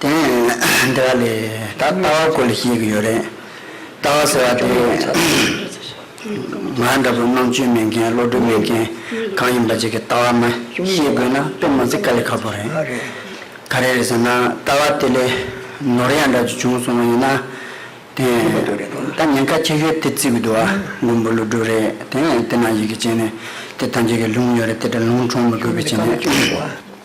དེ་ནས་འདི་ག་ལས་ད་ལྟ་བ་སྐོར་ལས་ཤེས་ཀྱི་ཡོད་རེད། ལྟ་བ་ཟེར་བ་དེ། ང་འདྲ་བོ་རྣམ་དཔྱོད་མེད་མཁན་བློ་གྲོས་མེད་མཁན་གང་ཡིན་པ་ཅིག་གིས་ལྟ་བ་མ་ཤེས་དགོས་ན་དཔེ་མ་ཚིག་ག་ལས་ཁག་པོ་རེད། ག་རེ་རེད་ཟེར་ན་ལྟ་བ་དེ་ལས་ནོར་ཡ་འདྲ་ཅིག་བྱུང་སོང་བ་ཡིན་ན། དེ་ད་ཉེན་ཁ་ཆེ་ཤོས་དེ་བརྩི་གི་འདུག་ཨ་མགོན་པོ་ཀླུ་སྒྲུབ་རེད་དེ་ནས་དེ་ན་ཡི་གེ་སྤྱད་ནས་དེ་ཐམས་ཅད་ཀྱི་ལུང་ཡོད་རེད་དེ་འདྲ་ལུང་འཁྲུངས་མི་དགོས་པའི་ཆེད་ནས།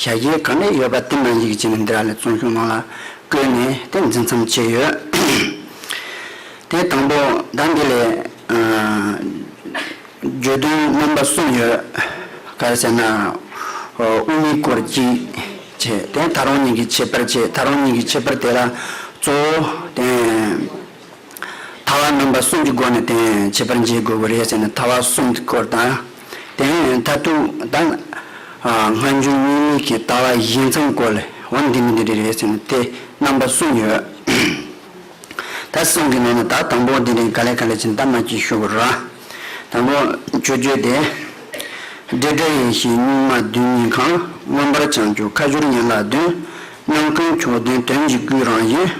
ཞལ་རྒྱའི་གང་ནས་ཡོད་པ་དེ་རྣམས་ཡིག་ཅན་འདི་ར་ལས་བཙོང་ཤོག་ནང་ལ་བཀོད་ནས་དེ་འཛིན་མཚམས་བཅད་ཡོད། དེའི་དང་པོ་ཟླ་འདི་ལས། བརྗོད་དོན་རྣམ་པ་གསུམ་ཡོད། ག་རེ་ཟེར་ན། དབུ་མའི་སྐོར་གཅིག་བྱས། དེ་ད་རུང་གཉིས་ཀྱི་ཁྱད་པར་བྱས། ད་རུང་གཉིས་ཀྱི་ཁྱད་པར་དེ་ལ་གཙོ་བོ། ཐ་བ་རྣམ་པ་གསུམ་གྱི་སྒོ་ནས་དེ་བྱེད་པར་འབྱེད་དགོས་པ་རེད་ཟེར་ན་ཐ་བ་གསུམ་གྱི་སྐོར་དང། དེ་ཡང་མཐར་ཐུག་ད་སྔ་འབྱུང་གཉིས་མེད་ཀྱི་ལྟ་བ་བཞི་མཚམས་བཀོད་ལ་འོ་འདི་མི་འདི་རེད་ཟེར་ན་དེ་རྣམ་པ་གསུམ་ཡོད། ད་གསུམ་གྱི་ནང་ན་ད་དང་པོ་དེ་རེད་ག་ལེ་ག་ལེ་ཅི་འདྲ་མ་ཅི་ཞུ་གོ་ར། དང་པོ་ཆོས་བརྒྱུད་དེ། འབྲེལ་སྒྲ་ཡེ་ཤེས་གཉུག་མ་བདུན་གཉིས་གང་མངོན་པར་བྱང་ཆུབ་ཁ་སྦྱོར་ཡན་ལག་བདུན། རྣམ་ཀུན་མཆོག་ལྡན་དོན་གྱི་སྐུའི་རང་བཞིན།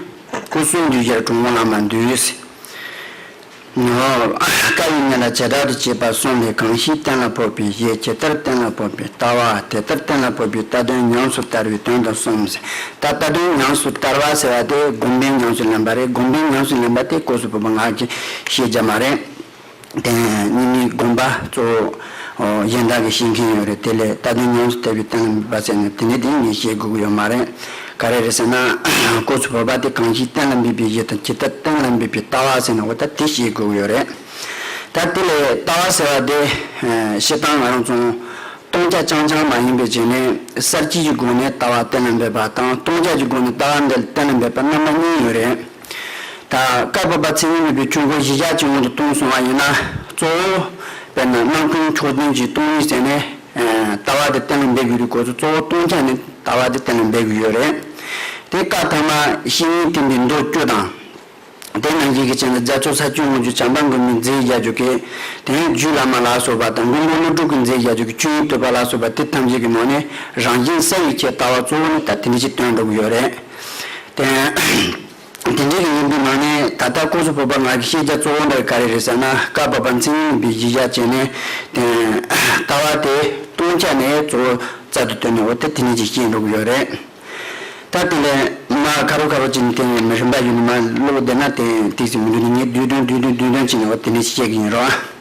སྐུ་གསུང་ཐུགས་རྗེར་དྲུང་བ་ལ་མ་འདུས་སེ། ནོ། བཀའ་ཡི་གནད་ལ་ཇི་ལྟར་དུ་བྱས་པ་གསུངས་པའི་གང་ཞིག་གཏན་ལ་ཕོག་པའི་གཞི་ཇི་ལྟར་གཏན་ལ་ཕོག་པའི་ལྟ་བ་དེ་ལྟར་གཏན་ལ་ཕོག་པའི་རྟ་དོན་ཉམས་སུ་བསྟར་བའི་དོན་དུ་གསུངས་སེ། ད་ལྟ་རྟ་དོན་ཉམས་སུ་བསྟར་བ་ཟེར་བ་དེ་སྒོམ་པའི་ཉམས་སུ་ལེན་པ་རེད་སྒོམ་པའི་ཉམས་སུ་ལེན་པ་དེ་སྐུ་གསུང་བུམ་པ་སྔགས་ཀྱི་ཤེས་བྱ་མ་རེད། དེ་ནས་གཉིས་མེད་དགོངས་པ་གཙོ་བོ་གཞན་དག་གིས་ཤེས་མཁན་ཡོད་རེད་དེ་ལས་རྟ་བདུན་ཉམས་སུ་བསྟེར་བའི་སྟེང་ལ་འབའ་ཚད་ནས་དེ་འདྲའི་སྡིག་ཉེས་བྱེད་དགོས་ཀྱི་ཡོད་མ་རེད། ག་རེ་རེད་ཟེར་ན། སྐོར་ཚོས་བོད་པ་དེ་གང་ཞིག་གཏན་ལ་འབེབས་པའི་གཞི་དང་ཇི་ལྟར་གཏན་ལ་འབེབས་པའི་ལྟ་བ་ཟེར་ན་འོ་ད་དེ་བྱེད་དགོས་ཀྱི་ཡོད་རེད། ད་དེ་ལས་ལྟ་བ་ཟེར་བ་དེ། ཤི་སྟངས་ང་རང་ཚོང། སྟོང་ཆ་རྐྱང་རྐྱང་མ་ཡིན་པའི་རྗེས་ནས་གསར་སྐྱེས་ཀྱི་སྒོ་ནས་ལྟ་བ་གཏན་ལ་འབེབས་པ་དང་སྟོང་ཆ་ཀྱི་སྒོ་ནས་ལྟ་བ་འདི་གཏན་ལ་འབེབས་པ་རྣམ་པ་གཉིས་ཡོད་རེད། དང། བཀའ་བབས་པ་ཚེ་རིང་ལུས་པའི་ཆུ་འགོ་གཞིས་ཆགས་ཀྱི་དབང་དུ་གཏོང་སོང་བ་ཡིན་ན་གཙོ་བོ། དཔེར་ན་སྣང་སྟོང་ཕྱོགས་མཐུན་གྱི་སྟོང་ཉིད་བསྟན་ནས། ལྟ་བ་དེ་གཏན་ལ་འབེབས་དགོས་རིགས་ཁོ་ཚོ་གཙོ་བོ་སྟོང་ཆ་ནས་ལྟ་བ་དེ་གཏན་ལ་འབེབས་དགོས་ཡོད་རེད། དེ་བཀའ་ཐ་མ་བཤེས་གཉེན་བསྟེན་པའི་མདོ་བཅུ་དང། དེ་ནང་བཞིན་གྱི་ཆེད་ལ་རྒྱ་མཚོ་ས་བཅུའི་དངོས་བརྒྱུད་བྱམས་པ་མགོན་པོའི་མཛད་རྒྱ་བརྒྱུད་ཀྱི་དེ་ཡང་རྒྱུད་བླ་མ་ལ་སོགས་པ་དང་མགོན་པོ་ཀླུ་སྒྲུབ་ཀྱི་མཛད་རྒྱ་བརྒྱུད་ཀྱི་བཅུ་ཡིག་བསྟོད་པ་ལ་སོགས་པ་དེ་ཐམས་ཅད་ཀྱི་ནང་ནས་རང་བཞིན་གསལ་བའི་ཆེད་ལྟ་བ་གཙོ་བོ་ནི་ད་དེ་འདྲའི་ཆེད་བཏོན་འགྲོ་གི་ཡོད་རེད། བསྟན། དེ་འབྲེལ་གྱི་སྙན་པའི་ནང་ནས་ད་ལྟ་ཀོང་སོ་བོད་པ་ངག་གི་ཤེས་བྱ་གཙོ་བོ་འདི་ག་རེ་རེད་ཟེར་ན་སྐབས་བབས་པ་མཚན་ཉིད་འདི་གཞི་བཞག་བྱས་ནས་བསྟན། ལྟ་བ་དེ་སྟོང་ཆ་ནས་གཙོ་བོ་རྩལ་དུ་བཏོན་ནས་འོ་དེ་དེ་ནས་ཅིག་བཤད་འགྲོ་གི་ཡོད་རེད། ད་དེ་ལས་མ་ཁ་རོ་ཁ་རོ་བྱས་ནས་བསྟན་ནས་མི་རིན་པ་ཡོད་ནི་མ་བློ་བདེ་ན་དེ་ཐིག་ཟིག་མི་འདུག་ནི་ངས་བསྡུས་དོན་བསྡུས་དོན་བསྡུས་དོན་བྱས་ནས་འོ་དེ་ནས་ཅིག་བཤད་གི་ཡིན་རོགས་ཨ།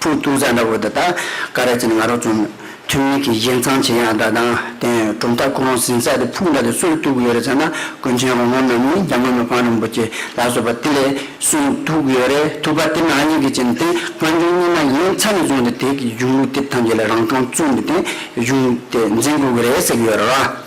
ཕུག་ཐུག་ཟ་འདྲ་བོ་འདི་དག་ཀ་ར་ཅན་ང་རང་བཙོང་མོད། ཐུན་མིན་གྱི་བཞེས་མཚང་བྱེད་ཡག་འདྲ་དང་བསྟན་གྲུབ་མཐའ་སྐུ་རང་ཟིན་ས་དེ་ཕུག་འདྲ་དེ་སུར་བཏུག་ཡོད་རེད་ཟེར་ན་ཀུན་མཁྱེན་རོང་མོ་ནམ་ནིང་རྒྱ་དམར་མི་ཕང་རིན་པོ་ཆེ་ལགས་བཟོ་པ་དེ་ལས་སུར་བཏུག་ཡོད་རེད་ཐུག་པ་དེ་ནང་སྙིང་གི་ཅན་དེ་སྔ་འབྱུང་གཉིས་ན་ཡིན་ཚ་ནས་བཟུང་སྟེ་དེ་གི་གཞུང་ལུགས་དེབ་ཐམས་ཅད་ལས་རང་གྲོང་བཙུགས་ནས་དེ་གཞུང་དེ་འཛིན་དགོས་ཀྱི་རེད་ཟེར་གྱི་ཡོད་རེད་བ།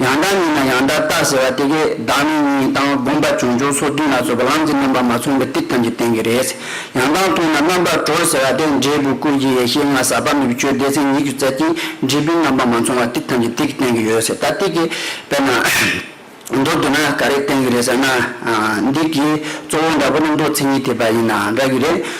ཡང་དག་ཉིད་ན་ཡང་དག་རྟག་ཟེར་བ་དེ་གས་བདག་མེད་གཉིས་དང་བསྒོམ་པ་བྱུང་ཆོག་སོ་བདུན་ལ་སོགས་པ་ལང་ཚོའི་རྣམ་པར་མ་མཚོན་པའི་ཏིག་ཐམས་ཅད་བསྟན་གྱི་རེད། ཡང་དག་མཐོང་ན་རྣམ་པར་གྲོལ་ཟེར་བ་དེ་འབྲས་བུ་ཀུན་གྱི་ཡེ་ཤེས་ལྔ་ཟག་པ་མེད་པའི་ཆོས་སྡེ་མཚན་ཉིད་ཀྱི་རྩལ་གྱིས་འབྲས་བུའི་རྣམ་པར་མ་མཚུངས་བ་ཏིག་ཐམས་ཅད་ཏིག་བསྟན་གྱི་ཡོད་ཟེར་ད་ཏིག་གས་དཔེར་ན། མདོར་བསྡུ་ན་ག་རེ་བསྟན་གྱི་རེད་ཟེར་ན། འདི་གས་གཙོ་བོ་འདྲ་པོ་རྣམ་རྟོག་མཚན་ཉིད་ཐེག་པ་ཡིན་ན་འདྲ་གི་རེད།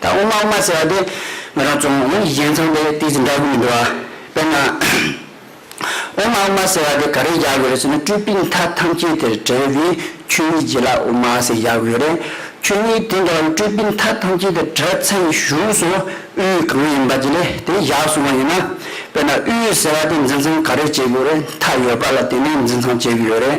ད་དབུ་མ་དབུ་མ་ཟེར་བ་དེ་ང་རང་རྫོང་གཞན་ཚང་པའི་དེ་ཅི་འདྲ་གི་མི་འདུག་ཨ། དཔེར་ན། དབུ་མ་དབུ་མ་ཟེར་བ་དེ་ག་རེ་བཞག་གི་རེད་ཟེར་ན་སྤྲུལ་པའི་མཐའ་ཐམས་ཅད་དེར་བྲེལ་བའི་ཆོས་ཉིད་བྱས་ལ་དབུ་མ་ཟེར་བཞག་གི་ཡོད་རེད། ཆོས་ཉིད་དེ་འདྲ་བ་ནི་སྤྲུལ་པའི་མཐའ་ཐམས་ཅད་དེར་བྲེལ་ཚད་ནས་བཞུགས་སོང་དབུས་གང་ཡིན་པ་དེ་ལས་དེ་བཞག་སོང་བ་ཡིན་ན། དཔེར་ན་དབུས་ཟེར་བ་དེ་འཛིན་ཚང་ག་རེ་བྱེད་གི་ཡོད་རེད་མཐའ་ཡོད་པ་ལ་དེ་ནས་འཛིན་ཚང་བྱེད་གི་ཡོད་རེད།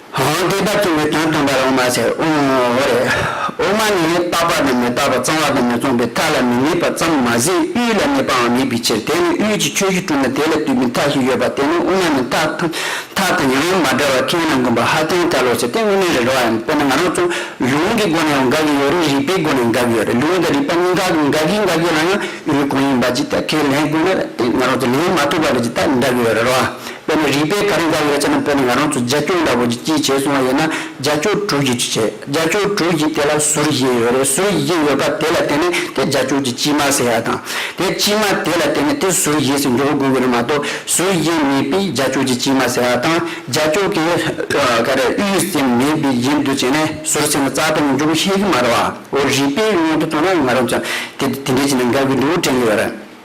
ཧཱུྃ་བཟླས་པ་སྟོན་པའི་དོན་སྟོན་པར་འོ་མ་བྱ། འོ་རེ། འོ་མ་ནི་བརྟག་པ་དང་མི་བརྟག་པ་གཙང་བ་དང་མི་གཙང་པའི་མཐའ་ལ་མི་གནས་པ་ཙམ་མ་ཟད་དབུས་ལ་གནས་པའང་མེད་པའི་ཕྱིར་དེ་ནི་དབུས་ཀྱི་ཆོས་བཞི་བཀྲུས་ན་དེ་ལ་བཏུད་པའི་མཐའ་ཞིག་ཡོད་པ་དེ་ནི་དབུ་མ་ནི་མཐའ་དང་ཡང་ཡང་མ་འདྲ་བར་ཁས་ན་འགོན་པ་ཧ་ཅང་ཐལ་ལོ་ཞེས་དེ་དངོས་གནས་རེད་རོ་ཨེ་དཔེར་ན་ང་རང་ཚོ་ལུང་གི་སྒོ་ནས་ཡང་དགག་གི་ཡོད་རེད་རིགས་པའི་སྒོ་ནས་དགག་གི་ཡོད་རེད་ལུང་དང་རིགས་པ་གཉིས་ཀ་གི་དགག་གི་དགག་གི་ལ་ཡང་ཡུལ་གང་ཡིན་པ་ཅིག་ཐད་ཁས་ལེན་དགོས་ན་དེ་ང་རང་ཚོ་ལེན་མ་ཐུབ་པ་རེད་ཅེས་ཐལ་འདྲ་གི་ཡོད་རེད་རོ་ཨེ། དཔེར་ན་རིགས་པའི་གར་འགའ་ཡོད་ཚད་ནང་བོད་ནས་ང་རང་ཚོ་རྒྱ་ཁྱོད་འདྲ་བོ་ཀྱི་སྐྱིད་བྱས་སོང་བ་ཡིན་ན་རྒྱ་ཁྱོད་དྲུག་གིས་ཅི་བྱས་རྒྱ་ཁྱོད་དྲུག་གིས་དེ་ལ་ཟུར་བཞེས་ཡོད་རེད་ཟུར་བཞེས་ཡོད་པ་དེ་ལ་བརྟེན་ནས་དེ་རྒྱ་ཁྱོད་ཀྱི་སྐྱིད་མ་ཟེར་ཡག་དང་དེ་སྐྱིད་མ་དེ་ལ་བརྟེན་ནས་དེ་ཟུར་བཞེས་སུ་འཇོག་དགོས་གི་རེད་མ་གཏོགས་ཟུར་བཞེས་མེད་པའི་རྒྱ་ཁྱོད་ཀྱི་སྐྱིད་མ་ཟེར་བ་དང་རྒྱ་ཁྱོད་ཀྱི་ག་རེ་དབུས་ཡུལ་སེམས་མེད་པའི་རྗེས་འདུག་བྱས་ནས་ཟུར་ཟེར་ནས་རྩ་དོན་འཇོག་ཤེས་གི་མ་རེད་བ་འོ་རིགས་པའི་སྙན་ཐོ་བཏང་ན་ང་རང་ཚོ་དེ་འདྲའི་ཆེད་ནས་དགའ་གི་འདུག་དྲན་གི་ཡོད་རེད།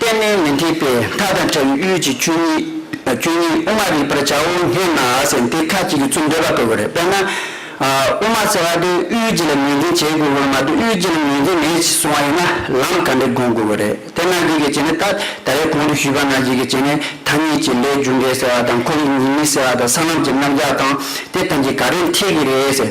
གཏན་ནས་མི་འཐད་པས་མཐའ་དང་བྲལ་བའི་གཡུལ་གྱི་ཆོས་ཉིད་དབུ་མ་རིག་པར་བྱའོ་སྙམ་ན་ཟེར་དེ་ཁ་ཅིག་གིས་ཚུར་འདོད་པ་བཀོད་པ་རེད་དཔེར་ན། དབུ་མ་ཟེར་བ་དེ་གཡུལ་འགྱེད་ལ་ངོས་འཛིན་བྱེད་དགོས་པར་མ་གཏོགས་གཡུལ་འགྱེད་ལ་ངོས་འཛིན་མེད་ཅེས་གསུང་བ་ཡིན་ན་ལམ་ག་འདྲས་དགོངས་དགོས་པ་རེད་དེ་ན་ཟིག་གིས་བྱས་ནས་ད་ད་རེས་གོང་དུ་ཞུས་པ་ན་ཟིག་གིས་བྱས་ནས་ཐ་སྙད་ཀྱི་ལས་རྒྱུ་འབྲས་ཟེར་བ་དང་ཁོ་བོས་ཉིད་མི་ཟེར་བ་དང་ས་ལམ་གྱི་རྣམ་གཞག་དང་དེ་ཐམས་ཅད་ག་རེས་འཐད་ཀྱི་རེད་ཟེར།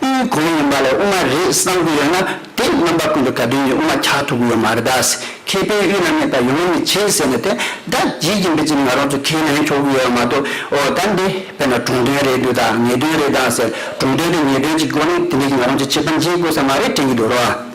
དབུའི་གོང་ཡིན་པ་ལས་དབུ་མ་རེད་བསམ་གྱི་ཡོད་ན་དེ་རྣམ་པ་ཀུན་ཏུ་ག་དུས་ཡིན་དབུ་མ་འཁྱག་ཐུབ་གི་ཡོད་མ་རེད་དཱ། མཁས་པའི་དབུས་ན་གནས་པ་ཡོང་མི་བྱེད་ཟེར་ནས་དེ་དག་བགྱིད་ཀྱིན་པའི་རྗེས་ང་རང་ཚོ་ཁས་ལེན་ཆོག་གི་ཡོད་མ་གཏོགས་ཨོ་ད་འདི་དཔེར་ན་གྲོང་དོན་རེད་འདུག་དཱ་ངེས་དོན་རེད་དཱ་ཟེར་གྲོང་དོན་དེ་ངེས་དོན་གྱི་སྒོ་ནས་དེ་འདྲ་གྱི་ང་རང་ཚོ་བྱེད་པ་འཇིག་དགོས་ས་མ་རེད་དྲན་གྱི་འདུག་རོ།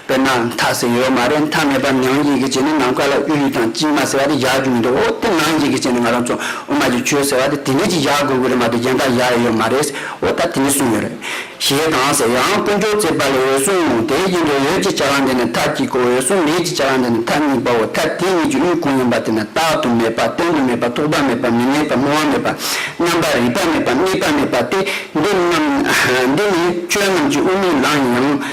དཔེར་ན་མཐའ་ཟེར་ཡོད་མ་རེད་མཐའ་མེད་པར་ནང་འགྱིག་གི་བྱས་ནས་ནམ་མཁའ་ལ་གཡུ་ཡི་དང་གཅིག་མ་ཟེར་བ་དེ་བཞག་རྒྱུ་མི་འདུག་འོ་དེ་ནང་འགྱིག་གི་བྱས་ནས་ང་རང་ཚོ་དབུ་མ་གྱི་ཆོས་ཟེར་བ་དེ་དེ་ནས་ཅིག་བཞག་དགོས་ཀྱི་རེད་མ་གཏོགས་གཞན་དག་བཞག་ཡས་ཡོད་མ་རེད་འོ་ད་དེ་ནས་གསུངས་ཡོད་རེད། ཞེས་དང་ཟེར་ཡང་དཀོན་མཆོག་བརྩེགས་པ་ལས་འོད་སྲུང་ངོ་དེའི་རྗེས་འབྲེལ་ཡོད་ཅེས་བྱ་བ་འདི་ནི་མཐའ་གཅིག་གོ་འོད་སྲུང་མེད་ཅེས་བྱ་བ་འདི་ནི་མཐའ་གཉིས་པའོ་མཐའ་དེ་གཉིས་ཀྱི་དབུས་གང་ཡིན་པ་དེ་ནི་རྟག་ཏུ་མེད་པ་བསྟན་དུ་མེད་པ་ཐོགས་པ་མེད་པ་མི་གནས་པ་སྨོན་བ་མེད་པ་རྣམ་པར་རིག་པ་མེད་པ་གནས་པ་མེད་པ་སྟེ་འདི་རྣམས་འདི་ནི་ཆོས་རྣམས་ཀྱི་དབུ་མའི་ལམ་ཡིན་ཡང།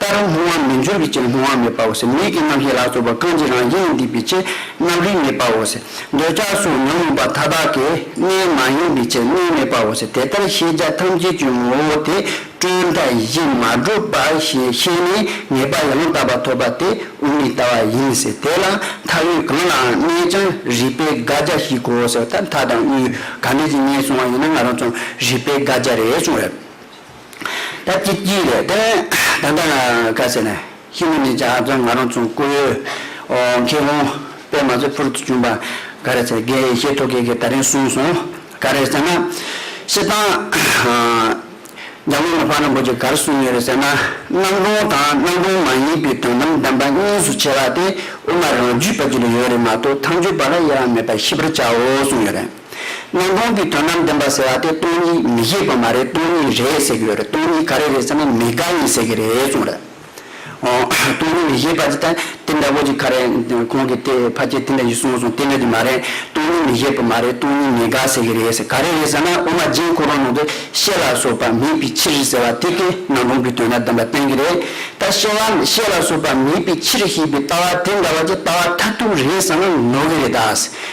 ལྟར་ལྷུང་བ་མི་འགྱུར་བའི་ཕྱིར་ལྷུང་བ་མེད་པའོ་ཟེར་ལུས་ཀྱི་རྣམ་ཤེས་ལ་སོགས་པ་གང་ཅི་རང་བཞིན་ཡིན་སྡིག་པའི་ཕྱིར་རྣམ་རིག་མེད་པའོ་ཟེར། འདོད་ཆགས་སོགས་ཉོན་མོངས་པ་མཐའ་དག་གི་གནས་མ་ཡིན་པའི་ཕྱིར་གནས་མེད་པའོ་ཟེར་དེ་ལྟར་ཤེས་བྱ་ཐམས་ཅད་ཀྱི་ངོ་བོ་དེ་སྤྲོས་མཐའ་བཞི་མ་གྲུབ་པ་ཞེས་ཤེས་ནས་ངེས་པ་ཡང་དག་པ་ཐོབ་པ་དེ་དབུ་མའི་ལྟ་བ་ཡིན་ཟེར་དེ་ལ་མཐའ་དབུས་གང་ལའང་གནས་ཀྱང་རིག་པའི་དགག་བྱ་ཞིག་གོ་ཟེར་བ་ལྟར་མཐའ་དང་དབུས་ག་འདྲ་ཞིག་ངེས་བྱུང་བ་ཡིན་ན་ང་རང་ཚོར་རིག་པའི་དགག་བྱ་རེ་བྱུང་རེད། ད་ཅི་སྐྱིད་རེད་དེ། ད་ལྟ་ག་ཟེར་ནས་ཤི་ན་ནི་ཇག་ཚོས་ང་རང་ཚོང་བརྐུ། ཨོ། མཁས་གོང་པས་མ་རྩོད་ཕུར་གྱི་བྱུང་པ་ག་རེད་ཟེར་གས་ཤེས་ཐོ་གས་གས་ད་རིང་གསུངས་སོང་ག་རེད་ཟེར་ན། ཤི་སྟངས། རྒྱ་དམག་ལ་ཕར་ན་འབུ་གྱི་གར་གསུངས་ཡོད་རེད་ཟེར་ན། གནམ་གྲོང་དང་གནམ་གྲོང་མ་ཡིན་པའི་དོན་དམ་བདེན་པ་གཉིས་སུ་ཕྱེ་བ་དེ་དབུ་མ་རང་རྒྱུད་པ་གཅིག་ལ་ཡོད་རེད་མ་གཏོགས་ཐམས་ཅད་པ་ལ་དབྱེ་བ་མེད་པ་ཤེས་པར་བྱའོ་གསུངས་ཡོད་རེད། སྣང་སྟོང་གི་དོན་ནམ་བདེན་པ་ཟེར་བ་དེ་སྟོང་ཉིད་མི་ཤེས་པ་མ་རེད་སྟོང་ཉིད་རེད་ཟེར་གྱི་ཡོད་རེད་སྟོང་ཉིད་ག་རེ་རེད་ཟེར་ན་མི་དགའ་ངེས་ཟེར་གྱི་རེད་བྱུང་རེད། སྟོང་ཉིད་མི་ཤེས་པ་དེ་དེ་འདྲ་བོ་ཅིག་ག་རེ་ཁོང་གི་དེ་ཕ་སྐད་དེ་འདྲ་ཞིག་གསུངས་སོང་དེ་འདྲ་དེ་མ་རེད་སྟོང་ཉིད་མི་ཤེས་པ་མ་རེད་སྟོང་ཉིད་མི་དགའ་ཟེར་གྱི་རེད་ཟེར་ག་རེ་རེད་ཟེར་ན་དབུ་མ་རྗེན་ཁོ་རང་ནང་དུ་ཤེས་ལ་སོགས་པ་མེད་པའི་ཕྱིར་ཟེར་བ་དེ་སྐད་སྣང་སྟོང་གི་དོན་ནམ་བདེན་པ་བསྟན་གྱི་རེད་ད་ཤེས་བ་ཤེས་ལ་སོགས་པ་མེད་པའི་ཕྱིར་ཞེས་པའི་ལྟ་བ་དེ་འདྲ་བ་ཅིག་ལྟ་བ་མཐར་ཐུག་རེད་ཟེར་ན་ནོར་གྱི་རེད་ད།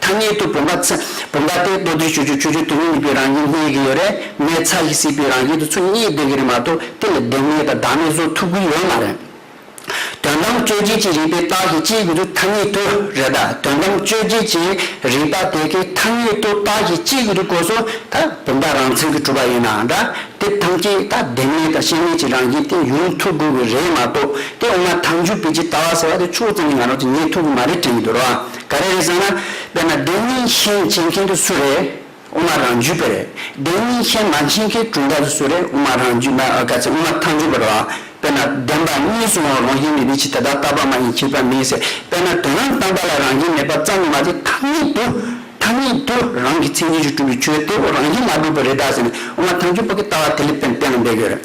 ཐ་སྙད་དུ་བུམ་པ། བུམ་པ་སྟེ་མདོར་བསྡུས་བཅུ་བཅུ་བཅུ་བཅུ་དོན་གཉིས་པོའི་རང་བཞིན་གནས་ཀྱི་ཡོད། རེས་མོས་ཚ་ཞིག་སྲིད་པའི་རང་བཞིན་དུ་ཚུལ་གཉིས་སྟོན་གྱི་རེད་མ་གཏོགས་དེ་ལ་བདེན་མེད་དང་བདག་མེད་བཟོ་ཐུབ་ཀྱི་ཡོད་མ་རེད། དོན་དམ་དཔྱོད་བྱེད་ཀྱི་རིགས་པའི་རྟགས་ཀྱི་སྤྱིའི་དགོས་ཚུལ་ཐ་སྙད་དུ་རེད་ད་དོན་དམ་དཔྱོད་བྱེད་ཀྱི་རིགས་པ་དེ་གའི་ཐ་སྙད་དུ་རྟགས་ཀྱི་སྤྱིའི་དགོས་ཚུལ་གོ་སོང་ད་བུམ་པ་རང་མཚན་གྱི་གྲུབ་པ་ཡིན་ནའང་འདྲ་དེ་ཐམས་ཅད་ད་བདེན་མེད་དང་ཤེས་མེད་ཀྱི་རང་བཞིན་སྟེ་ཡོང་ཐུབ་དགོས་ཀྱི་རེད་མ་གཏོགས་དེ་འོ་མ་ཐང་ཆུ་བེད་ཀྱི་ལྟ་བ་ཟེར་བ་དེ་ཆུ་བོ་ཙམ་གྱིས་ང་རང་ཚོ་ཉན་ཐུབ་ཀྱི་མ་རེད་དྲན་གྱི་འདུག་རོགས་ཨ། ག་རེ་རེད་བསམ་ན། དཔེར་ན་བདེན་གཉིས་མཁྱེན་བྱེད་མཁན་དེ་སུ་རེད། དབུ་མ་རང་རྒྱུད་པ་རེད། བདེན་གཉིས་མཁྱེན་མ་མཁྱེན་མཁན་གྲུབ་མཐའ་དེ་སུ་རེད་དབུ་མ་རང་རྒྱུད་མ་ག་ཚད་དབུ་མ་མཐའ་འཇུག་པ་རེད། དཔེར་ན་བདེན་པ་གཉིས་སུ་འོང་རང་བཞིན་མེད་པའི་ཕྱིར་དེ་དག་རྟག་པ་མ་ཡིན་ཁྱད་པར་མིན་ཟེར། དཔེར་ན་དོན་རང་སྟོང་པ་ལ་རང་བཞིན་མེད་པ་ཙམ་ལས་མ་ཚད་མཐའ་གཉིས་དུ། མཐའ་གཉིས་དུ་རང་གི་མཚན་ཉིད་ཀྱིས་གྲུབ་པའི་ཆོས་དེ་བོ་རང་བཞིན་མ་གྲུབ་པ་རེད་དཱ་ཟེར་ནས་དབུ་མ་མཐའ་འཇུག་པ་གི་ལྟ་བ་དེ་ལས་དཔེར་བསྟན་ལ་འབད་དགོས་རེད།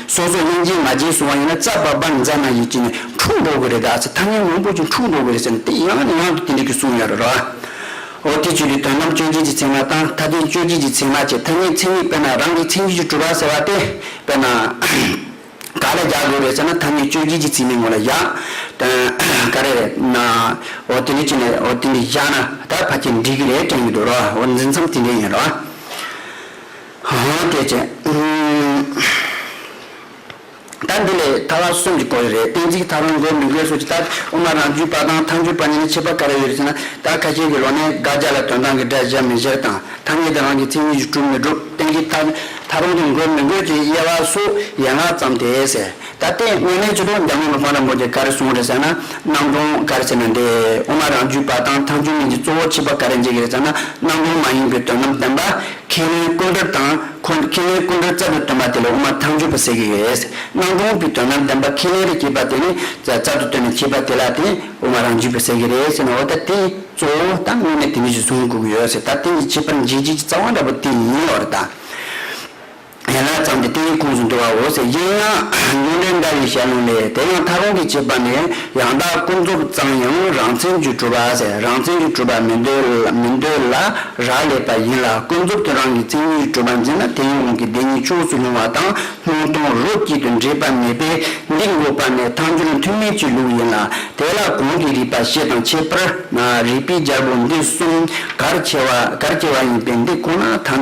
སོ་སོ་གླིང་རྗེས་མ་རྗེས་སུ་འང་ཡོད་ན་རྩ་བབ་པར་མཛད་ན་ཡིད་ཀྱི་ནི་འཁྲུགས་འགྲོ་གི་རེད་ད་ཚེ་ཐ་སྙད་མང་པོ་ཅིག་འཁྲུགས་འགྲོ་གི་རེད་ཟེར་ནས་དེ་ཡང་ནས་ཡང་དུ་དེ་འདྲ་གི་གསུངས་ཡོད་རེད་རོ། འོ་དེ་ཆོས་ཀྱི་དོན་ནམ་དཔྱོད་བྱེད་ཀྱི་ཚད་མ་དང་མཐའ་རྟེན་དཔྱོད་བྱེད་ཀྱི་ཚད་མ་བཅས་ཐ་སྙད་མཚན་ཉིད་དཔེར་ན་རང་གི་མཚན་ཉིད་ཀྱི་གྲུབ་པ་ཟེར་བ་སྟེ་དཔེར་ན། ག་ལ་རྒྱག་དགོས་རེད་ཟེར་ན་ཐ་སྙད་དཔྱོད་བྱེད་ཀྱི་ཚིག་མའི་ངོ་ལ་བཞག་དོན་ག་རེ་རེད་ན། འོ་དེ་འདྲ་བྱས་ནས་འོ་དེ་འདྲ་བཞག་ན་ད་ཕ་ཁྱེད་འགྲིག་གི་རེད་དྲན་གི་འདུག་རོ་འོ་འཛིན་མཚམས་དེ་འདྲ་ཡིན་རོ། དེ་ཅི། ད་འདི་ལས་ད་བར་གསུམ་གྱི་སྐོར་རེ་རེད་གཏན་ཚིགས་ཐ་རུང་མགོ་མི་དགོས་སོ་ཅི་ལྟར་དབུ་མ་རང་རྒྱུད་པ་དང་ཐང་རྒྱུད་པ་གཉིས་ནི་ཁྱད་པར་ག་རེ་ཡོད་རེད་ཟེར་ན་ད་ཁ་ཤས་ཀྱི་ལོ་ནས་དགག་བྱ་ལ་དོན་དང་གི་སྒྲ་གཞག་མི་གཞག་དང་ཐ་སྙད་དེ་རང་གི་མཚན་ཉིད་ཀྱིས་གྲུབ་མི་གྲུབ་གཏན་ཚིགས་ཐ་རུང་གི་མགོ་མི་མགོས་ཀྱི་དབྱེ་བ་སུ་ཡན་ལག་ཙམ་དེ་ཟེར། ད་ལྟའི་དངོས་གནས་ཆུ་གྲོང་རྒྱ་མི་ལོ་མང་རིང་པོ་དེ་ག་རེ་སོང་རེད་ཟེར་ན་སྣང་སྟོང་ག་རེ་བྱས་ན་འདས་འོ་མ་རང་རྒྱུད་པ་དང་ཐང་ཆུང་མིན་གྱི་གཙོ་བོ་ཁྱི་པ་ག་རེ་འཇིག་གི་རེད་ཟེར་ན་སྣང་སྟོང་མ་ཡིན་པའི་དོན་ནམ་བདེན་པ་ཁས་ལེན་སྐུ་མགྲོན་དང་ཁས་ལེན་སྐུ་མགྲོན་རྩ་བའི་དོན་པ་དེ་ལ་འོ་མ་ཐང་རྒྱུད་པ་ཟེར་གི་རེད་སྣང་སྟོང་གི་དོན་ནམ་བདེན་པ་ཁས་ལེན་རེད་ཁྱི་པ་དེ་ནི་རྩ་དུ་བཏོན་ནས་ཁྱི་པ་དེ་ལ་དེ་འོ་མ་རང་རྒྱུད་པ་ཟེར་གི་རེད་ཟེར་ན་འོ་ད་ལྟའི་གཙོ་བོ་དང་དངོས་གནས་དེ་གཉིས་ཀྱི་གཟུངས་དགོས་གི་ཡོད་ཟེར་ད་ལྟའི་ཁྱི་པར་འཇིག་བྱེད་ཀྱི་རྩ་བ་འདྲ་པོ་དེ་ཡིན་ལོར་ད། ཡན་ལག་ཙམ་གྱི་སྟེང་ཁུངས་སུ་འདུ་བའོ་ཟེར་གྱིན། ཡོན་ཏན་འདྲ་བའི་ཞལ་ལུང་ལས་དེ་ཡང་ཐ་རུང་གི་བྱེད་པ་ནི་ཡང་དག་ཀུན་རྫོབ་ཙམ་ཡང་རང་མཚན་གྱིས་གྲུབ་པ་ཟེར་རང་མཚན་གྱིས་གྲུབ་པ་མི་འདོད་ལ་རག་ལས་པ་ཡིན་ལ་ཀུན་རྫོབ་ཏུ་རང་གི་མཚན་གྱིས་གྲུབ་པར་འཛིན་ན་དེ་ཡི་དབང་གིས་བདེན་གཉིས་ཕྱོགས་སུ་ལྷུང་བ་དང་སྣང་སྟོང་རོ་གཅིག་ཏུ་འདྲེས་པ་མེད་པས་འདིར་འགོད་པ་ནི་ཐམས་ཅད་མཐུན་མེད་ཀྱི་ལུགས་ཡིན་ལ་དེ་ལ་གོང་གི་རིགས་པ་ཕྱེད་དང་ཁྱད་པར་རིགས་པའི་སྦྱར་བུ་འདི་གསུམ་གར་སྐྱེ་བ་ཡིན་པས་འདི་ཁོ་ན་དང་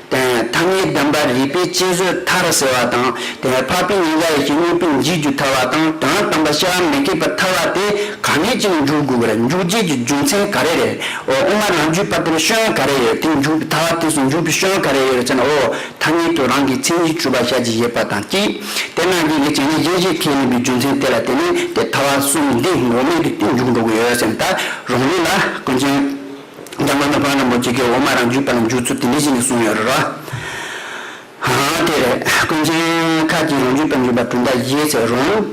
དེང་ཐ་མའི་བདེན་པ་རིག་པའི་དཔྱད་བཟོད་མཐར་སེལ་བ་དང་དེས་འཕགས་པའི་ཉེས་འགའ་ཡེ་ཤེས་གཉིས་པོའི་འཇིག་རྒྱུ་ཐར་བ་དང་དོན་དམ་པ་ཤེས་པ་མི་ཁེགས་པ་ཐར་བ་དེ་ག་ནས་ཅི་ལ་འཇུག་དགོས་པར་འཇུག་བྱེད་ཀྱི་རྒྱུ་མཚན་ག་རེ་རེད་འོ་དབུ་མ་རང་རྒྱུད་པ་དེར་སྐྱོན་ག་རེ་ཡོད་དེ་འཇུག་པའི་ཐར་བ་དེ་སུ་འཇུག་པའི་སྐྱོན་ག་རེ་ཡོད་ཅེ་ན་འོ་ཐ་སྙད་དུ་རང་གི་མཚན་གཞི་བཅུ་པ་ཤར་གྱི་ཞེས་པ་དང་གཅིག་དེ་རྣམས་ཀྱིས་ཀྱི་བྱས་ཉེས་གཞན་ཞིག་ཁེགས་ཡིན་པའི་རྒྱུ་མཚན་དེ་ལ་བརྟེན་ནས་དེ་ཐར་བ་གསུམ་འདི་འགོག་མེད་དུ་དེ་འཇུག་འགྲོ་གི་ཡོད་སེམས་ལྟར་རང་རིག་ལ་ཀུན་མཁྱེན། འདབ་མ་ནི་བ་ལང་པོ་ཅིག་གི་འོ་མ་རང་རྒྱུད་པ་ལ་འཇུག་ཚུལ་དེ་འདི་བཞིན་དུ་གསུངས་ཡོད་རོ། དེ་རེད། ཀུན་མཁྱེན་མཁར་གྱིས་རང་རྒྱུད་པ་འཇུག་པ་གྲུབ་མཐའ་བཞིའི་ཚེ་རོང།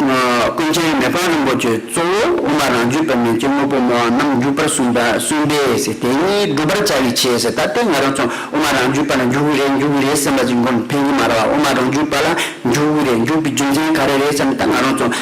ཀུན་མཁྱེན་མེ་ཕག་རིན་པོ་ཆེས་གཙོ་བོ་འོ་མ་རང་རྒྱུད་པ་མེད་ཅིང་དངོས་པོ་མོ་བ་རྣམས་འཇུག་པར་གསུངས་པ་གསུངས་པས་དེ་གཉིས་བསྒྲུབ་པར་བྱ་བའི་ཆེད་ད་ལྟའི་ང་རང་ཚོ་འོ་མ་རང་རྒྱུད་པ་ལ་འཇུག་གི་རེད་འཇུག་གི་རེད་སེམས་པ་ཅིག་འགོམ་ཕན་གྱི་མ་རེད་བ་འོ་མ་རང་རྒྱུད་པ་ལ་འཇུག་གི་རེད་འཇུག་པའི་རྒྱུ་མཚན་ག་རེ་རེད་བསམ་ན་ད་ང་རང་ཚོ་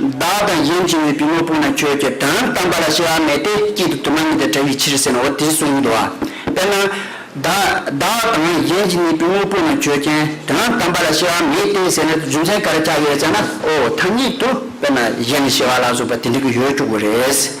བདག་དང་གཞན་བྱེ་བའི་བུས་མོ་སྤུངས་ན་ཁྱོད་ཀྱི་དོན་དམ་པ་ལ་སྐྱེ་བ་མེད་དེ་སྐྱིད་དུ་དུ་མ་ཉིད་དུ་བྲལ་བའི་ཕྱིར་ཟེར་ནོ་དེའི་གསུང་ཉིད་དུའོ། དཔེར་ན། བདག་དང་གཞན་གྱིས་ནི་བུས་མོ་སྤུངས་ན་ཁྱོད་ཀྱི་དོན་དམ་པ་ལ་སྐྱེ་བ་མེད་དེ་ཟེར་ན་རྒྱུ་མཚན་ག་རེ་ཆགས་ཡོད་ཅེ་ན། འོ་ཐ་སྙད་དུ་དཔེར་ན་གཞན་ནི་སྐྱེ་བ་ལ་སོགས་པ་དེ་འདྲ་གི་ཡོད་བཅུག་གོ་རེད།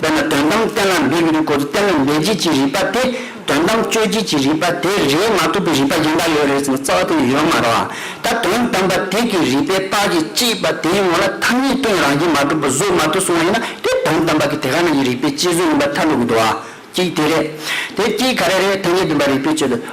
དཔེར་ན་དོན་དམ་གཏན་ལ་འབེབས་ཀྱི་རིགས་སྐོར་དུ་གཏན་ལ་འབེབས་བྱེད་ཀྱི་རིགས་པ་དེ་དོན་དམ་དཔྱོད་བྱེད་ཀྱི་རིགས་པ་དེ་རེད་མ་ཐུབ་པའི་རིགས་པ་གཞན་དག་ཡོད་རེད་ཟེར་ན་རྩ་བ་དེ་ཡོད་མ་རེད། ད་དོན་དམ་པ་དེ་གི་རིགས་པའི་རྟགས་ཀྱི་གཅེས་པ་དེའི་ངོ་ལ་ཐ་སྙད་སྟོན་རང་བཞིན་མ་གྲུབ་པ་བཟོ་མ་ཐུབ་སོང་བ་ཡིན་ན་དེ་དོན་དམ་པ་གི་དེ་ག་ནང་གི་རིགས་པའི་དཔྱད་བཟོད་ཡིན་པ་མཐར་འདོགས་དགོས་འདུག་ཨ། གཅིག་དེ་རེད། དེ་གཅིག་ག་རེ་རེད་ཐ་སྙད་འདོན་པ་རིགས་པའི་དཔྱད་བཟོད།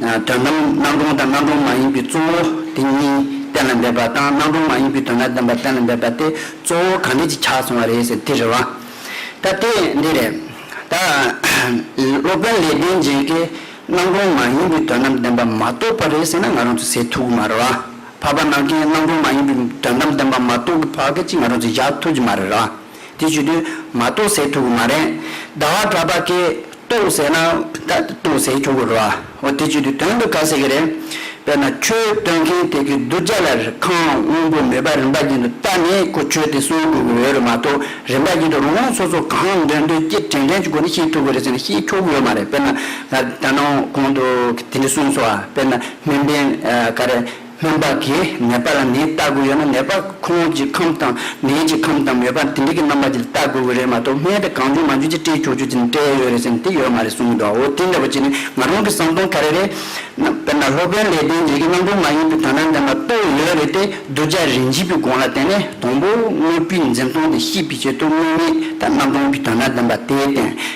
དོན་དམ་སྣང་སྟོང་དང་སྣང་སྟོང་མ་ཡིན་པའི་གཙོ་བོ་དེ་གཉིས་གཏན་ལ་འབེབས་པ་དང་སྣང་སྟོང་མ་ཡིན་པའི་དོན་དང་ལྡན་པ་གཏན་ལ་འབེབས་པ་དེ་གཙོ་བོ་གང་འདྲས་ཀྱིས་ཆགས་སོང་བ་རེད་ཟེར་དེ་རེད་བ། ད་དེ་འདི་རེད། ད་སློབ་དཔོན་ལེགས་ལྡན་འབྱེད་ཀྱིས་སྣང་སྟོང་མ་ཡིན་པའི་དོན་དམ་ལྡན་པ་མ་རྟོགས་པ་རེད་ཟེར་ན་ང་རང་ཚོ་ཟེར་ཐུབ་ཀྱི་མ་རེད་བ། འཕགས་པ་ནང་མཁན་སྣང་སྟོང་མ་ཡིན་པའི་དོན་དམ་ལྡན་པ་མ་རྟོགས་ཀྱི་བར་སྐད་ཅིག་ང་རང་ཚོས་བཞག་ཐུབ་ཀྱི་མ་རེད་བ། དེ་བྱོས་དུས་མ་རྟོགས་ཟེར་ཐུབ་ཀྱི་མ་རེད། ཟླ་བ་གྲགས་པ་ཀས་ལྟོས་ཟེར་ན་ད་ལྟོས་ཟེར་ཆོག་གི་རེད་བ། འོ་དེ་བརྗོད་དུས་དོན་དུ་ག་ཟེར་གི་རེད། དཔེར་ན་ཆོས་སྟོན་མཁན་དེ་གིས་གདུལ་བྱ་ལ་ཁང་སྔོན་པོ་མེད་པར་རིམ་པ་ཅན་དུ་བལྟ་ནས་ཁོ་ཆོས་དེ་གསུང་དགོས་ཀྱི་ཡོད་རེད་མ་གཏོགས་རིམ་པ་ཅན་དུ་རང་དབང་སོ་སོ་གང་འདོད་འདོད་སྐྱིད་དྲན་དྲན་གྱི་སྒོ་ནས་ཤེས་ཐུབ་ཀྱི་རེད་ཟེར་ན་ཤེས་ཆོག་གི་ཡོད་མ་རེད་དཔེར་ན་ད་ནངས་གོང་དུ་དེ་འདྲས་གསུངས་སོ། དཔེར་ན་སྨན་པས་ག་རེ། སྨན་པ་དེས་ནད་པ་ལ་ནད་བལྟ་དགོས་ཡོད་ན་ནད་པ་ཁོང་ཀྱི་ཁམས་དང་ནད་ཀྱི་ཁམས་དང་མོས་པ་དེ་འདྲ་གི་རྣམ་པ་དེ་བལྟ་དགོས་གི་རེད་མ་གཏོགས་སྨན་པས་གང་བྱུང་མ་བྱུང་ཅི་སྤྲད་ཁྱོ་ཆུ་དེ་ནས་སྤྲད་ཡོད་རེད་ཟེར་ནས་དེ་ཡོད་མ་རེད་གསུངས་འདུག་འོ་དེ་འདྲ་བ་ཅི་ནས་ང་རང་གི་བསམ་སྟངས་ག་རེ་རེད། དཔེར་ན་སློབ་དཔོན་ལེགས་ལྡན་འབྱེད་ཀྱི་རྣམ་རོལ་མ་ཡིན་པའི་དོན་རྣམ་དེ་མ་གཏོགས་ཡོད་རེད་དེ་གདུལ་བྱ་རིན་ཆེན་པོའི་དགོངས་ལ་བརྟེན་ནས་དང་པོ་དངོས་པོའི་འཛིན་སྟངས་དེ་ཤེས་པའི་ཆེད་དུ་དངོས་མེད་དང་རྣམ་སྟོང་གི་དོན་རྣམ་བདེན་པ་དེའི་སྟེང་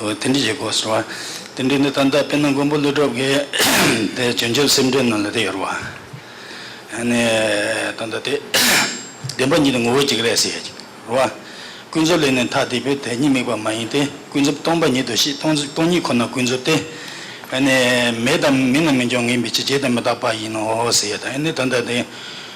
འོ་དེ་འདྲི་ཞེས་གོ་ཟེར་བ། དེ་འདྲི་འདི་ད་ལྟ་དཔེར་ན་མགོན་པོ་ཀླུ་སྒྲུབ་ཀྱི་དེ་བྱང་ཆུབ་སེམས་འགྲེལ་ནང་ལ་དེ་ཡོད་རེད་བ། ཧ་ནས་ད་ལྟ་དེ་བདེན་པ་ཉིད་དུ་ངོ་བོ་གཅིག་རེད་ཟེར་ཡོད་རེད་བ། ཀུན་རྫོབ་ལས་ནི་ཐ་དད་པའི་དེ་ཉིད་དམིགས་པ་མ་ཡིན་ཏེ་ཀུན་རྫོབ་སྟོང་པ་ཉིད་དུ་ཤེས་སྟོང་ཉིད་ཁོ་ན་ཀུན་རྫོབ་སྟེ། ཧ་ནས་མེད་དམ་མིན་ན་མི་འབྱུང་ངེས་པའི་ཕྱིར་རྗེས་དེ་མི་རྟག་པ་ཡིན་ནོ་ཟེར་ཡོད་དེ་ནི་ད་ལྟ་དེ་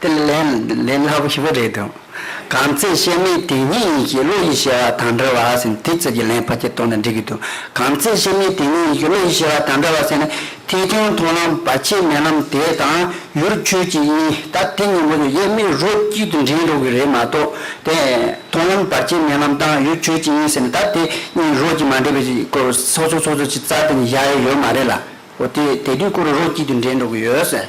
དེ་ལས་ལན་སླ་པོ་ཞིག་པོ་རེད་འདུག་གང་ཚེ་བཤད་མིན་དེ་ཉིད་ཡིན་གྱི་བློ་ཡིས་བཤད་པ་དང་འདྲ་བ་ཟེར་དེ་ཚོད་ཀྱི་ལན་ཕར་ཆེར་གཏོང་ན་འགྲིག་གི་འདུག་གང་ཚེ་བཤད་མིན་དེ་ཉིད་ཡིན་གྱི་བློ་ཡིས་བཤད་པ་དང་འདྲ་བ་ཟེར་ན་ཐིག་ཐུན་མཐོང་ལམ་བ་ཕྱི་མེ་ལམ་དེ་དང་ཡུར་ཆུ་གཅིག་ཡིན་ད་དེ་གཉིས་མོ་ཡོད་ཡེ་མི་རོ་གཅིག་ཏུ་འདྲེན་འགྲོ་གི་རེད་མ་གཏོགས་དེ་མཐོང་ལམ་བར་ཕྱི་མེ་ལམ་དང་ཡུར་ཆུ་གཅིག་ཡིན་ཟེར་ན་ད་དེ་གཉིས་རོ་གཅིག་མ་འདྲེས་པའི་སྐོར་སོ་སོ་སོ་སོ་ཅིག་རྩ་དེ་ནས་བཞག་ཡས་ཡོད་མ་རེད་ལ་འོ་དེ་དེ་དུས་སྐོར་རོ་གཅིག་ཏུ་འདྲེན་འགྲོ་གི་ཡོད།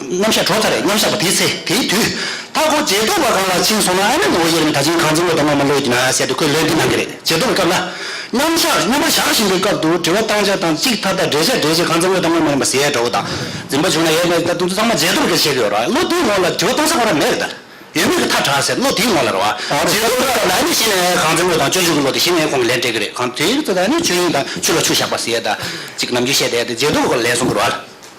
མཉམ་བཞག་གྲོགས་ཚར་རེ་མཉམ་བཞག་པ་དེའི་ཚེ་དེའི་དུས། མཐའ་སྐོར་རྗེས་ཐོབ་བ་གང་ལ་ཕྱིན་སོང་ན་ཨ་མའི་ངོ་བོ་དབྱེར་མེད་ད་ཕྱིན་གང་འཛིན་བློ་དང་ངོ་མ་བློ་ཡིན་ན་ཟེར་དུས་ཁོས་ལན་འདི་གནང་གི་རེད་རྗེས་ཐོབ་པའི་སྐབས་ལ། མཉམ་བཞག་མཉམ་པར་བཞག་བཞིན་པའི་སྐབས་དུ་དྲི་བ་བཏང་བྱ་བཏང་གཅིག་མཐའ་དག་འགྲེལ་བྱ་འགྲེལ་གཅིག་གང་འཛིན་བློ་དང་ངོ་མ་ཡིན་པ་ཟེར་ཡས་འདྲ་བོ་དང། འཛིན་པ་བྱུང་ན་ཡས་མས་ད་དུང་ཚང་མ་རྗེས་ཐོབ་ཀྱི་ཆེད་དུ་ཡོད་ར་བློ་དེའི་ངོ་ལ་དྲི་བ་གཏོང་ས་གོ་ར་མེད་རེད་ད། ཡོད་མེད་ཀྱི་མཐའ་དྲག་ཟེར་བློ་དེའི་ངོ་ལ་ར་བ། རྗེས་ཐོབ་ཀྱི་སྐབས་ལ་ཨ་མས་གཞི་ནས་གང་འཛིན་བློ་དང་སྤྱོད་འཇུག་གི་བློ་དེ་གཞི་ནས་ཁོང་གིས་ལན་སྤྲད་གི་རེད་གང་དེའི་ཚེ་ད་ཨ་མས་ཆོས་དབྱིངས་དང་ཆུ་ལ་ཆུ་བཞག་པ་ཟེར་ཡས་ད། གཅིག་ནམ་རྒྱུན་བཤད་དེ་ད་རྗེས་ཐོབ་བའི་སྐོར་ལ་ལན་གསུམ་བུར་བ་ལ།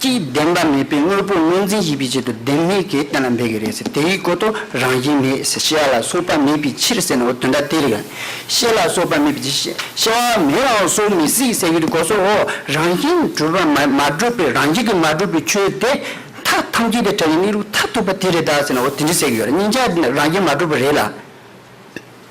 ཀྱིས་བདེན་པ་མེད་པའི་དངོས་པོ་དངོས་འཛིན་བྱེད་པའི་ཆེད་དུ་བདེན་མེད་ཀྱི་གཏན་ལ་འབེབས་ཀྱི་རེད་ཟེར་དེའི་གོ་དོ་རང་བཞིན་མེད་ཟེར་ཤེས་ལ་སོགས་པ་མེད་པའི་ཕྱིར་ཟེར་ནའོ་དོན་དག་དེ་རེད། ཤེས་ལ་སོགས་པ་མེད་པའི་ཕྱིར་ཤེས་བ་མེད་ལའང་གསོག་མི་སྲིད་ཟེར་རྒྱུ་དེ་གོ་སོགས་འོག་རང་བཞིན་གྲུབ་པ་མ་མ་གྲུབ་པའི་རང་བཞིན་གྱིས་མ་གྲུབ་པའི་ཆོས་དེ་མཐའ་ཐམས་ཅད་དེ་བྲལ་བའི་གནས་ལུགས་མཐར་ཐུག་པ་དེ་རེད་ཟེར་ནའོ་དེ་འདྲའི་ཟེར་གྱི་ཡོད་རེད་སྙིང་ཆ་རང་བཞིན་མ་གྲུབ་པ་རེད་ལ།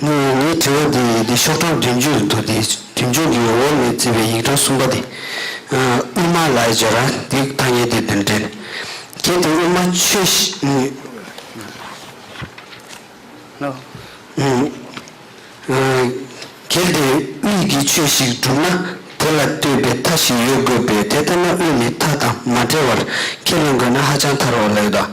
ངས་ངའི་དྲི་བ་འདི་འདི་ཤོག་གྲངས་བདུན་ཅུ་རུ་འདུག་འདི་བདུན་ཅུ་འདི་ཡོང་བོར་ངས་བརྩིས་པའི་ཡིག་གྲངས་གསུམ་པ་འདི། དབུ་མ་ལ་ཡི་སྦྱོར་ར་འདི་ཐ་སྙད་འདི་བདུན་དྲན། གལ་ཏེ་དབུ་མ་ཆོས། གལ་ཏེ་དབུས་ཀྱི་ཆོས་ཤིག་བསྒྲུབ་ན་དེ་ལ་ལྟོས་པའི་མཐའ་ཞིག་ཡོད་དགོས་པས་དེ་ལྟ་ན་དབུས་ནི་མཐའ་དང་མ་བྲལ་བར་ཁས་བླངས་དགོས་ན་ཧ་ཅང་ཐར་བ་ལ་ཡོད་དོ།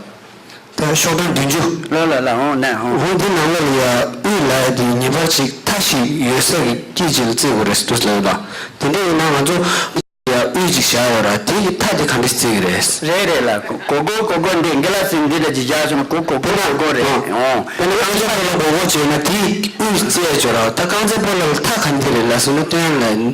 དེ་ལ་ཕྱོགས་སྟོང་བདུན་ཅུ། ལ་ལ་ལ་འོང་ན་འོང། འོང་དེ་ནང་ལ་ལ་ཡ་དབུས་ལ་ཡ་དེ་ངེས་པར་ཅིག་མཐའ་ཞིག་ཡོད་ས་གི་སྐྱེས་ཅིག་ལ་བརྩི་དགོས་རེད་ཟེར་དུས་ལ་ཡོད་པ། དེ་འདྲ་ཡིན་ན་ང་ཚོ་ཡ་དབུས་ཅིག་བཞག་ཡོད་ར་དེ་གི་མཐའ་དེ་ག་འདྲ་བརྩི་གི་རེད། རེད་རེད་ལ་གོ་གོ་གོ་གོ་འདི་འགི་ལ་ཟིན་འདི་ལ་ཇི་བཞག་བྱུང་ན་གོ་གོ་གོ་གོ་གོ་རེད་འོང། དཔེར་ན་རྐང་རྩེད་པོ་ལ་གོ་གོ་བྱས་ན་དེ་དབུས་བརྩི་ཡ་བྱོས་ར་ད་རྐང་རྩེད་པོ་ལ་ལ་མཐའ་ག་འདི་རེད་ལ་ཟེར་ན་དོན་ལ་ཡིན།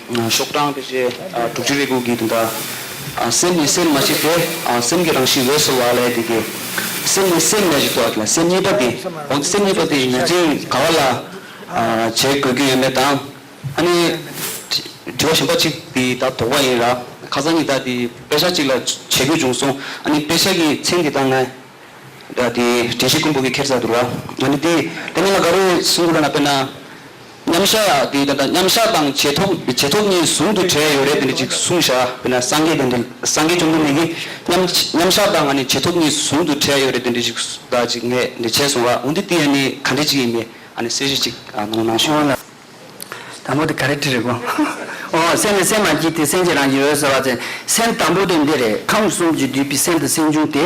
ཤོག་གྲངས་དེ་བཞིན་དྲུག་ཅུ་རེ་དགུ་གིས་དེ་འདྲ། སེམས་ནི་སེམས་མ་མཆིས་ཏེ། སེམས་ཀྱི་རང་བཞིན་འོད་གསལ་བ་ལས་དེ་སྐྱེ། སེམས་ནི་སེམས་མ་མཆིས་ཏེ། སེམས་གཉིས་པ་དེ། འོན་ཏེ་སེམས་གཉིས་པ་དེ་བཞིན་ཉན་ཅིང་དགའ་བ་ལ། བྱེད་དགོས་རྒྱུ་ཡོད་མེད་དང། ཨ་ནི། དྲི་བ་གཞན་པ་གཅིག་དེ་དག་དོགས་པ་ཡིན། ར་ཁ་སང་གཉིས་དག་དེ་དཔེ་ཆ་གཅིག་ལ་བྱེད་དགོས་བྱུང་གསུངས། ཨ་ནི་དཔེ་ཆ་གི་མཚན་དེ་དག་ང། དྲིན་ཤིག་ཀུན་འབུལ་གྱིས་ཁྱེར་བྱ་དུར་བ། ཨ་ནི་དེ། དེ་རྣམས་ལ་འགའ་རེས་གསུང་དགོས་པ་ན་དཔེར་ན། མཉམ་བཞག་དེ་ད་ལྟ་མཉམ་བཞག་དང་རྗེས་ཐོབ་རྗེས་ཐོབ་གཉིས་ཟུང་དུ་འབྲེལ་ཡོད་རེད་དེ་འདྲ་ཅིག་གསུང་བཞག་དཔེར་ན་སངས་རྒྱས་དེ་འདྲ་སངས་རྒྱས་བཅོམ་ལྡན་འདས་ཀྱིས་མཉམ་མཉམ་བཞག་དང་ང་ནི་རྗེས་ཐོབ་གཉིས་ཟུང་དུ་འབྲེལ་ཡོད་རེད་དེ་འདྲ་ཅིག་བདག་ཅིག་ངས་འདི་བྱས་སོང་ལ་འོན་ཏེ་དེ་ཡང་ནི་ག་འདྲ་ཅིག་ཡིན་པས་ཨ་ནི་གསལ་བཤད་ཅིག་གནང་གནང་ཞུ། འོ་ན་དང་པོ་དེ་ག་རེ་བྲིས་རེད་གོ། འོ་སེམས་ནི་སེམས་མ་སྐྱེས་ཏེ་སེམས་ཀྱི་རང་བཞིན་འོད་གསལ་བ་ཅན་སེམས་དང་པོ་དེ་འདི་རེད་ཁམས་གསུམ་གྱི་བསྡུས་པའི་སེམས་དང་སེམས་བྱུང་དེ་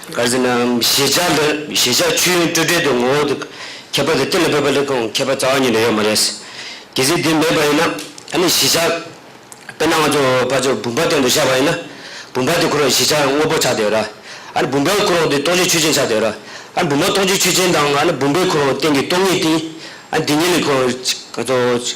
གར་ཟིན་ནའམ་གཞིས་ཆགས་འདིར་གཞིས་ཆགས་ཆུ་ཡོན་སྤྲོས་བྲལ་དུ་ངོ་བོ་དུ་ཁྱད་པར་དུ་གཏན་ལ་འབེབས་པ་ལས་ཀྱང་མཁས་པ་རྩ་བ་ཉིད་ལ་ཡོད་མ་རེད། གལ་སྲིད་དེ་མེད་པ་ཡིན་ན་ད་ནི་གཞིས་ཆགས་དཔེར་ན་ང་ཚོ་ཕར་ཚུར་བུམ་པ་སྟེང་དུ་བཞག་པ་ཡིན་ན་བུམ་པ་དེ་འཁོར་བའི་གཞིས་ཆགས་དངོས་པོ་ཆགས་དེ་ར་ཨ་ནི་བུམ་པའི་འཁོར་འོག་དེ་སྟོང་ཆའི་ཆུ་ཆེན་ཆགས་དེ་ར་ཨ་ནི་བུམ་པ་སྟོང་ཆའི་ཆུ་ཆེན་དང་ཨ་ནི་བུམ་པའི་འཁོར་འོག་སྟེང་གི་སྟོང་ཉིད་དེ་ཨ་ནི་དེ་ཉིད་ལས་འཁོར་བའི་གང་ཚོགས།